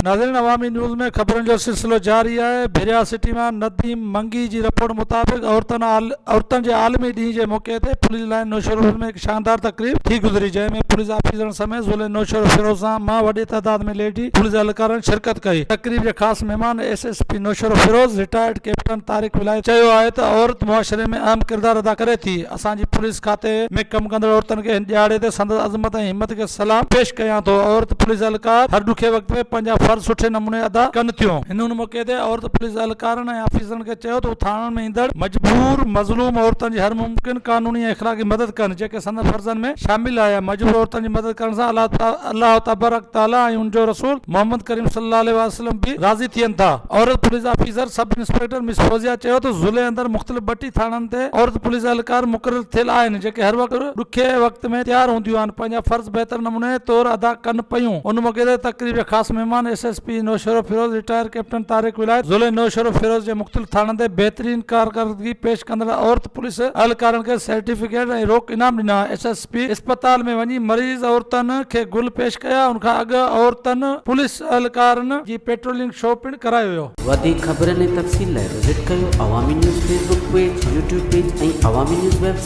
ناظرين عوامي نيوز ۾ خبرن جو سلسلو جاري آهي ڀريا سٽي مان نديم منگي جي رپورٽ مطابق عورتن عورتن جي عالمي ڏينهن جي موقعي تي پوليس لائن نوشهروفر ۾ هڪ شاندار تقريب ٿي گذري جنهن ۾ پوليس آفيسرن سميت ضلعي نوشهروفر سان مان وڏي تعداد ۾ ليڊي پوليس اهلڪارن شرڪت ڪئي تقريب جا خاص مهمان S S P Naushahro Feroze retired captain Tariq Wilayati چيو آهي ته عورت معاشري ۾ اهم ڪردار ادا ڪري ٿي اسان جي پوليس کاتي ۾ ڪم ڪندڙ عورتن کي هن ڏهاڙي تي سندس عظمت ۽ همت کي سلام پيش ڪيان ٿو عورت پوليس اهلڪار هر ڏکي وقت ۾ پنهنجا فرض سٺي نموني ادا ڪن ٿيون. هن ان موقعي تي عورت پوليس اهلڪارن ۽ آفيسرن کي چيو ته هو ٿاڻن ۾ ايندڙ مجبور مظلوم عورتن جي هر ممڪن قانوني ۽ اخلاقي مدد ڪن جيڪي سندن فرضن ۾ شامل آهي مجبور عورتن جي مدد ڪرڻ سان الله تبارڪ تعالي ۽ ان جو رسول محمد ڪريم صلي الله عليه وسلم به راضي ٿين ٿا. عورت police officer sub inspector miss Fauzia چيو ته ضلعي اندر مختلف ٻٽي ٿاڻن تي عورت پوليس اهلڪار مقرر ٿيل آهن جيڪي هر وقت ڏکئي وقت ۾ تيار هونديون آهن پنهنجا فرض بهتر نموني طور ادا ڪن پيون ان موقعي تي تقريب جا خاص مهمان S S P Naushahro Feroze retire captain Tariq Wilayat ضلعي نوشهروفيروز جي مختلف ٿاڻن تي بهترين ڪارڪردگي پيش ڪندڙ عورت پوليس اهلڪارن کي سرٽيفڪيٽ ۽ روڪ انعام ڏنا ايس ايس پي اسپتال ۾ وڃي مريض عورتن کي گل پيش ڪيا ان کان اڳ عورتن پوليس اهلڪارن جي پيٽرولنگ شو پڻ ڪرايو ويو. وڌيڪ خبرن ۽ تفصيل لاء وزٽ ڪيو Awami news Facebook page, YouTube page ۽ Awami news web site.